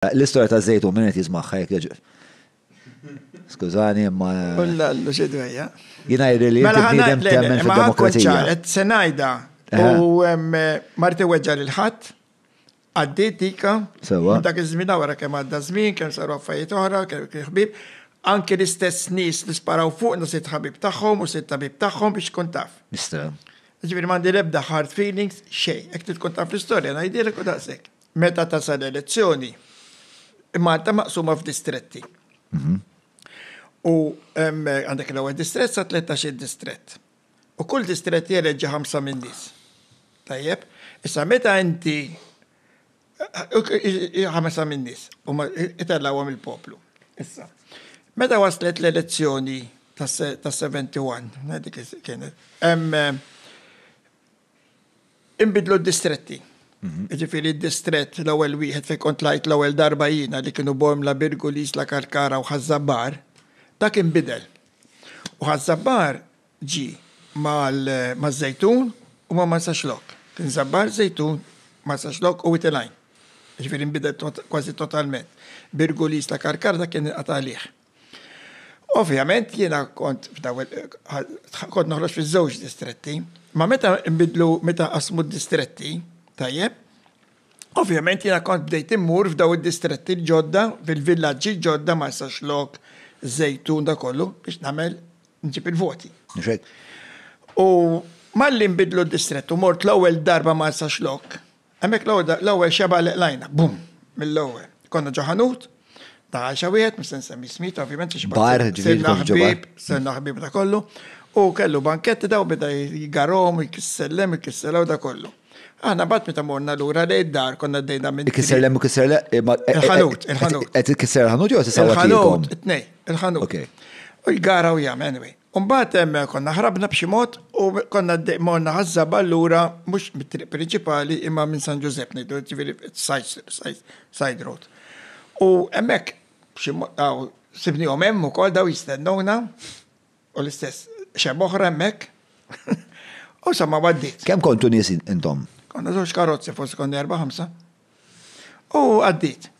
L-istorja ta' żejtun min qed jismagħha jekk jogħġbok. Skużani, imma. Ullallu xi dwejja. Jiena jidri li mela bniedem temmen fid-demokrazija. Qed se ngħidha u marti weġġa' lil ħadd għaddiet dika. Sewa. Dak iż-żmien wara kemm għadda żmien, kemm saru affarijiet oħra, kemm ħbib. Anke l-istess nies li sparaw fuq nusit ħabib tagħhom u sitt tabib tagħhom biex tkun taf. Nista'. Ġifieri m'għandi l-ebda hard feelings xejn. Hekk tkun taf l-istorja ngħidilek u daqshekk. Meta tasal elezzjoni, Malta maqsuma f'distretti. Mhm. U għandek l-ewwel distrett sa 13 distrett. U kull distrett jeleġġi ħamsa minn nies. Tajjeb, issa meta inti ħamsa minn nies u itellawhom il-poplu. Issa. Meta waslet l-elezzjoni tas-71, dik kienet, Inbidlu d-distretti. Ġifiri d-distrett l-ewwel wieħed fejn kont lajt l-ewwel darba jiena li kienu Bormla, Birgu, l-Isla Karkara u Ħaż-Żabbar, dak inbidel. U Ħaż-Żabbar ġie maż-Żejtun u ma' Marsaxlokk. Kien Żabbar, Żejtun, Marsaxlokk u Wied il-Għajn. Ġifiri nbidel kważi totalment. Birgu, l-Isla Karkara dak kien inqata' għalih. Ovvjament jiena kont f'daw kont noħroġ fiż-żewġ distretti, ma meta nbidlu meta qasmu d-distretti, tajjeb, ovvjament jiena kont bdejt immur f'daw id-distretti l-ġodda, fil-villaġġi l-ġodda, Marsaxlokk, Żejtun, dak kollu, biex nagħmel nġib il-voti. Mhux hekk? U malli nbidlu d-distrett u mort l-ewwel darba Marsaxlokk, Hemmhekk l-għodda l-ewwel xebgħa li qlajna, bum, mill-ewwel. Konna ġo ħanut, ta' għajxa wieħed, mhux se nsemmi smit, ovvjament, xi Bar, ġifieri sirna tkun ġo bar. ħbieb, sirna ħbieb da kollu. U kellu banketti daw beda jgarhom, jkissellem, jkissellem u da kollu. Aħna mbagħad meta morna lura lejn id-dar konna għaddejna minn Ikisser lemm u kisser le. Il-ħanut, il-ħanut. Qed ikisser il-ħanut jew qed isawwat lilkom? Il-ħanut, it-tnejn, il-ħanut. Okej. U jgara u jagħmel, anyway. U mbagħad hemm konna ħrabna b'xi mod u konna għaddej morna ħaż-żabal lura mhux mit-triq prinċipali imma minn San Ġużepp ngħidu, jiġifieri side road. U hemmhekk b'xi mod hawn sibniehom hemm ukoll dawn jistennuna u l-istess xebgħa oħra hemmhekk. U insomma għaddiet. Kemm kontu nies intom? Konna żewġ karozzi forsi konna erba' ħamsa. U għaddiet.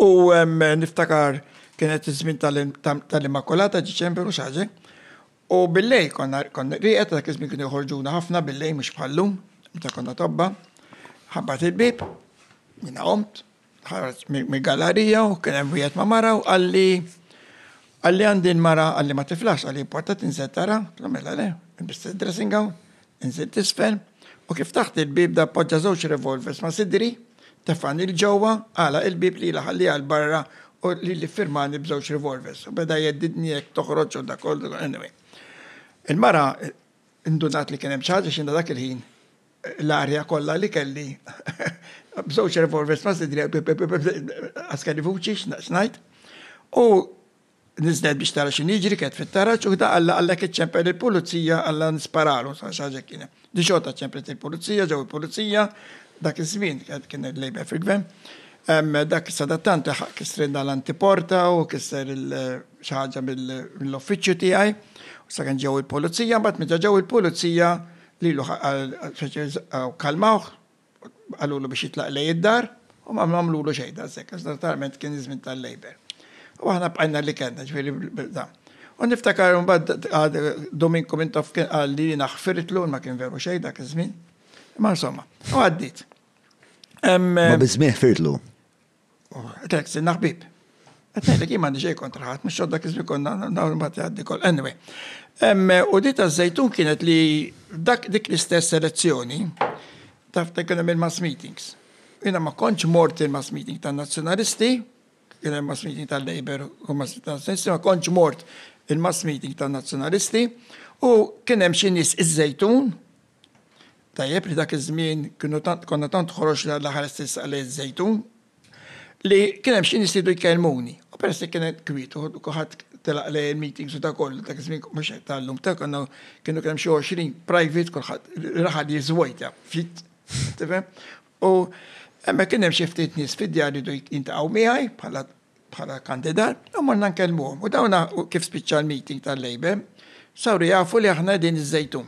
U niftakar kienet iż-żmien tal-Immakulata, Diċembru, xaġe. U billej konna konna riqet, dak iż-żmien kienu joħorġuna ħafna billej mhux bħallum, meta konna tobba. Ħabbat il-bib, minna qomt, ħarġ mill-gallarija u kien hemm wieħed ma' mara u qalli qalli għandi l-mara qalli ma tiflax, qalli importa tinżel tara, mela le, biss dressing gown. Inżilt isfel, u kif taħt il-bieb da poġġa żewġ revolvers ma' sidri, tefgħani 'l ġewwa, għalaq il-bieb lila ħalliha 'l barra u lili ffirmani b'żewġ revolvers, u beda jheddidni jekk toħroġ u da kollu, anyway. Il-mara ndunat li kien hemm xi ħaġa x'inha dak il-ħin l-arja kollha li kelli b'żewġ revolvers ma' sidri għaskelli vuċi x'ngħid, u Niżlet biex tara x'inhu jiġri, kienet fit-taraġ u ħda Alla Alla kienet ċempel il-pulizija, Alla nisparalu, xi ħaġa hekk kienet. Din xorta ċemplet il-pulizija, ġew il-pulizija, dak iż-żmien kien il-Labour fil-gvern. Dak sadattant laħaq kisrinna l-antiporta u kisser xi ħaġa mill-uffiċċju tiegħi. U sakemm ġew il-pulizija, mbagħad meta ġew il-pulizija lilu kalmawh, Qalulu biex jitlaq lejn id-dar u ma għamlulu xejn daqshekk għax naturalment kien iż-żmien tal-Labour. U aħna bqajna li kellna, ġifieri da. U niftakar mbagħad għad Dominku Mintoff kien qal li jiena ħfirtlu ma kien veru xejn dak iż-żmien. Imma insomma, u għaddiet. Ma biss min ħfirtlu. Għetlek, sinna ħbib. Għetlek, jien m'għandi xejn kontra ħadd, mhux xodda kizmi konna dawn imbagħad jgħaddi kol. Anyway. U di ta' żejtun kienet li dak dik l-istess selezzjoni taf ta' kien il-mass meetings. Jiena ma kontx mort il-mass meeting tan-Nazzjonalisti, kien hemm mass meeting tal-Labor u mass meeting tal-Nazzjonalisti, ma kontx mort il-mass meeting tan-Nazzjonalisti u kien hemm xi nies iż-żejtun Tajjeb li dak iż-żmien kienu tant konna tant ħoroxna l-aħħar stess għalejt żejtun li kien hemm xi nies li jridu jkellmuni. U peress li kien hemm kwiet u kulħadd telaq lejn il-meetings u dak kollu, dak iż-żmien mhux qed ta' llum, ta' konna kienu kien hemm xi għoxrin private kulħadd raħal jiżvojta ftit, tifhem? U hemmhekk kien hemm xi ftit nies fid-djar li jridu jiltaqgħu miegħi bħala bħala kandidat, u morna nkellmuhom. U dawna kif spiċċa l-meeting tal-Labour, saru jafu li aħna qegħdin iż-Żejtun.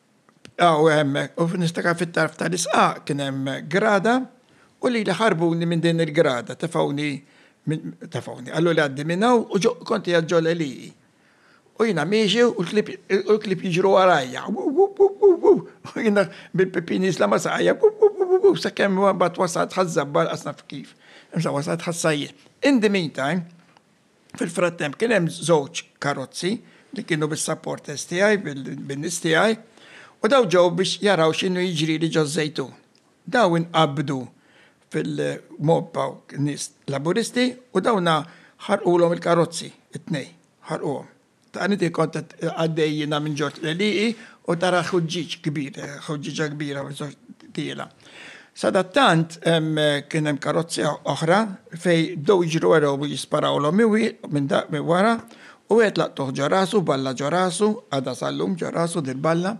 Aw hemm, u niftakar fit-tarf tal-isqaq kien hemm grada u lili ħarbuni minn din il-grada, tefgħuni, tefgħuni, qaluli għaddi minn hawn u ġo kont qiegħed ġo l-għelieqi. U jiena miexi u l-klieb jiġru warajja, wu wu wu wu wu, u jiena bil-pipin jiżla' ma' saqajja, wu wu wu wu wu, sakemm mbagħad wasalt ħaż-żabba lanqas naf kif, imma wasalt ħas-sajjied. In the meantime, Fil-frattemp kien hemm żewġ karozzi li kienu bis-supporters tiegħi, bin-nies tiegħi, u dawn ġew biex jaraw x'inhu jiġrili ġoż-Żejtun. Dawn inqabdu fil-mob hawn nies Laburisti u dawna ħarqulhom il-karozzi, it-tnejn, ħarquhom. Tani ti kont qed għaddej jiena minn ġort l-għelieqi u tara ħuġġieġ kbir, ħuġġieġa kbira tiela. Sadattant kien hemm karozzi oħra fej bdew jiġru wara u jisparawlhom iwi minn dak minn wara u wieħed laqtuh ġo rasu, balla ġo rasu, għadha sal-lum ġo rasu dil-balla,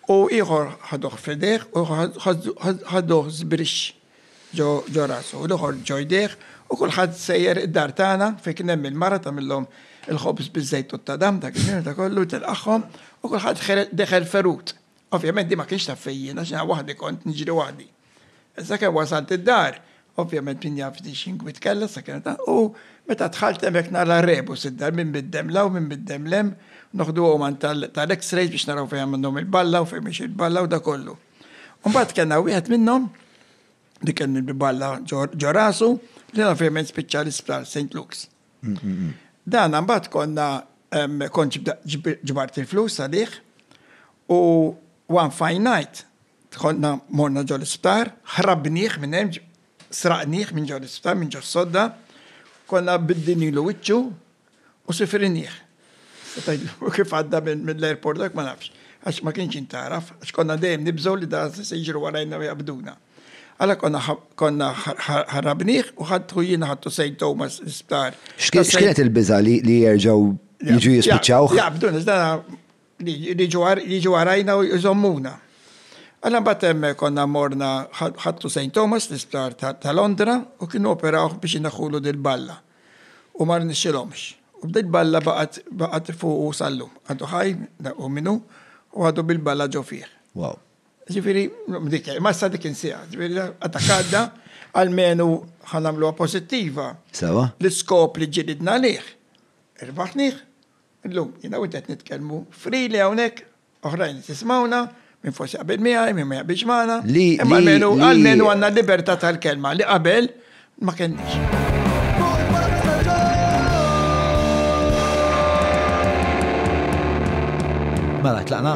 u ieħor ħaduh f'idejh u ieħor ħaduh żbrixx. ġo rasu, u l-ieħor ġo jdejh, u kulħadd sejjer id-dar tagħna fejn kien hemm il-mara tagħmilhom il-ħobż biż-żejt u t-tadam dak iż-żmien u dak kollu, tilqagħhom, u kulħadd ħereġ deħel ferut. Ovvjament din ma kienx taf fejn jien għax jiena waħdi kont niġri waħdi. Sakemm wasalt id-dar, ovvjament min jaf din x'ingwi tkellgħet sakemm ta, u meta dħalt hemmhekk nara r-rebus id-dar min bid-demm 'l hawn min bid-demm 'l hemm, noħduhom għand tal-X-rays biex naraw fejn għamilhom il-balla u fejn mhix il-balla u dak kollu. Mbagħad kellna wieħed minnhom li kien balla ġorasu li ovvjament spiċċa l-isptar St. Luke's. Mm, mm, mm. Dan mbagħad konna kont ġbart il-flus għalih u one fine night konna morna ġol isptar ħrabniħ minn hemm sraqniħ minn ġol isptar minn ġos sodda, konna biddini l-wiċċu U sifrinnieh. Tista' tgħidlu kif għadda mill-airport dak ma nafx, għax ma kienx jintgħaraf, għax konna dejjem nibżgħu li da se jiġru warajna u jaqbduna. Alla konna konna ħarrabnieh u ħadtu jiena ħadtu Saint Thomas l-isptar. X'kienet il-biża' li jerġgħu jiġu jispiċċawh? Jaqbduna, iżda jiġu warajna u jżommuna. Alla mbagħad hemm konna morna ħadtu Saint Thomas l-isptar ta' Londra u kienu operawh biex inaħħulu dil-balla. u ma rnexxilhomx. U bdejt balla baqgħet baqgħet fuqu sal-lum. Għadu ħaj, u minnu, u għadu bil-balla ġo fih. Wow. Ġifieri, dik, ma sa dik insija, ġifieri, għadha għadda, għalmenu ħanamluha pożittiva. Sewa. L-iskop li ġilidna lih, irbaħnih, illum, jiena u qed nitkellmu, free li hawnhekk, Oħrajn li tismawna, min forsi jaqbel miegħi, min ma jaqbilx magħna, imma almenu almenu għandna l-libertà tal-kelma li qabel ma kenniex. Mela tlaqna.